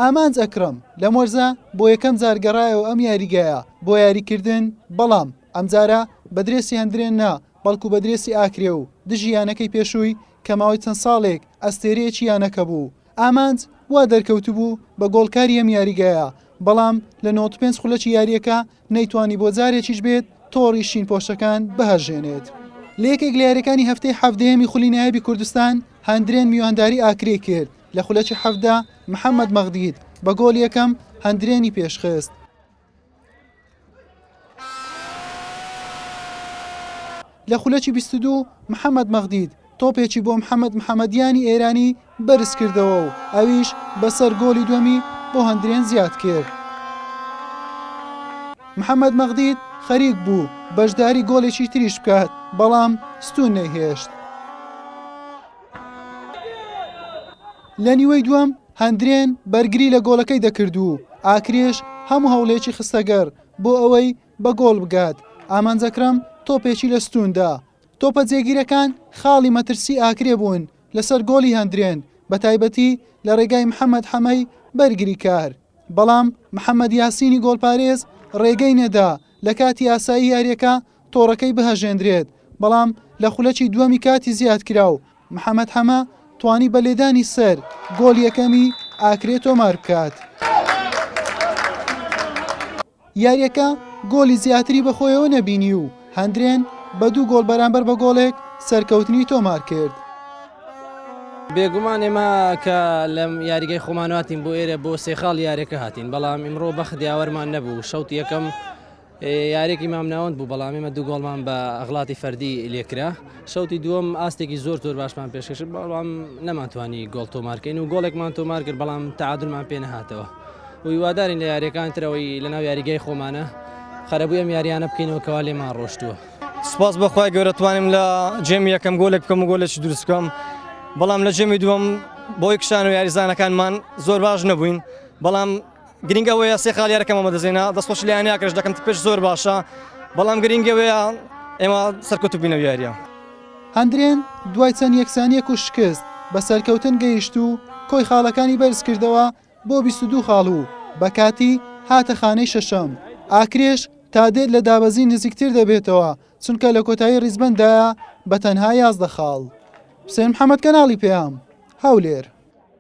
ئامانج ئەکرەم لەم وەرزە بۆ یەکەم جار گەڕایەوە ئەم یاریگایە بۆ یاریکردن، بەڵام ئەمجارە بە درێسی هەندرێن نا، بەڵکو بە درێسی ئاکرێ و دژی یانەکەی پێشووی کە ماوەی چەند ساڵێک ئەستێرەیەکی یانەکە بوو. ئامانج وا دەرکەوتبوو بە گۆڵکاری ئەم یاریگایە، بەڵام لە نەوەد و پێنج خولەکی یارییەکە نەیتوانی بۆ جارێکیش بێت تۆڕی شین پۆشەکان بهەژێنێت. لە یەکێک لە یاریەکانی هەفتەی حەڤدەیەمی خولی نایابی کوردستان هەندرێن میوانداری ئاکرێ کرد، لە خولەکی حەڤدە محەمەد مەغدید بە گۆڵ یەکەم هەندرێنی پێشخست. لە خولەکی بیست و دوو محەمەد مەغدید تۆپێکی بۆ محەمەد محەمەدیانی ئێرانی بەرزکردەوە و ئەویش بەسەر گۆڵی دووەمی بۆ هەندرێن زیادکرد. محەمەد مەغدید خەریک بوو بەشداری گۆڵێکی تریش بکات، بەڵام ستوون نەیهێشت. لە نیوەی دووەم هەندرێن بەرگری لە گۆڵەکەی دەکرد و ئاکرێش هەموو هەوڵێکی خستەگەڕ بۆ ئەوەی بە گۆڵ بگات، ئامانج ئەکرەم تۆپێکی لە ستوون دا، تۆپە جێگیرەکان خاڵی مەترسی ئاکرێ بوون لەسەر گۆڵی هەندرێن، بەتایبەتی لە رێگای محەمەد حەمەی بەرگریکار، بەڵام محەمەد یاسینی گۆڵپارێز رێگەی نەدا لە کاتی ئاسایی یارییەکە تۆڕەکەی بهەژێندرێت، بەڵام لە خولەکی دووەمی کاتی زیادکراو محەمەد حەمە توانی بە لێدانی سەر گۆڵ یەکەمی ئاکرێ تۆماربکات. یارییەکە گۆڵی زیاتری بەخۆیەوە نەبینی و هەندرێن بە دوو گۆڵ بەرامبەر بە گۆڵێک سەرکەوتنی تۆمارکرد. بێگومان ئێمە کە لە یاریگای خۆمان هاتین بۆ ئێرە بۆ سێ خاڵ یاریەکە هاتین بەڵام ئیمڕۆ بەخت یاوەرمان نەبوو شەوت یەکەم یاریێکی مامناوەند بوو بەڵام ئێمە دوو گۆڵمان بە ئەغڵاتی فەردی لێکرا شوتی دووەم ئاستێکی زۆر زۆر باشمان پێشکەشت بەڵام نەمانتوانی گۆڵ تۆمارکەین و گۆڵێکمان تۆمار کرد بەڵام تعادلمان پێ نەهاتەوە ویوادارین لە یاریەکان ترەوەی لەناو یاریگای خۆمانە خەرەبووی ئەم یاریانە بکەینەوە کەوا لێمان ڕۆشتووە سپاس بەخوای گەورەتوانم لە جێمی یەکەم گۆلێک بکەم و گۆلێکی دروستکەم بەڵام لە جێمی دووەم بۆی کشان و یاریزانەکانمان زۆر باش نەبووین بەڵام گرینگ ئەوەیە سێ خالی یارەکەم ئەمە دەزێنا دەستخۆش لە یانەکەش دەکەم پێش زۆر باشە بەڵام گرینگ ئەوەیە ئێمە سەرکەوت بینە یاریە هەندرێن دوای چەند یەکسانیەک و شکست بە سەرکەوتن گەیشت و کۆی خاڵەکانی بەرز کردەوە بۆ 22 خاڵ و بە کاتی هاتە خانەی شەشەم ئاکرێش تا دێت لە دابەزین نزیکتر دەبێتەوە چونکە لە کۆتایی ڕیزبەندایە بە تەنها یازدە خاڵ حسێن محەممەد کەناڵی پێیام هەولێر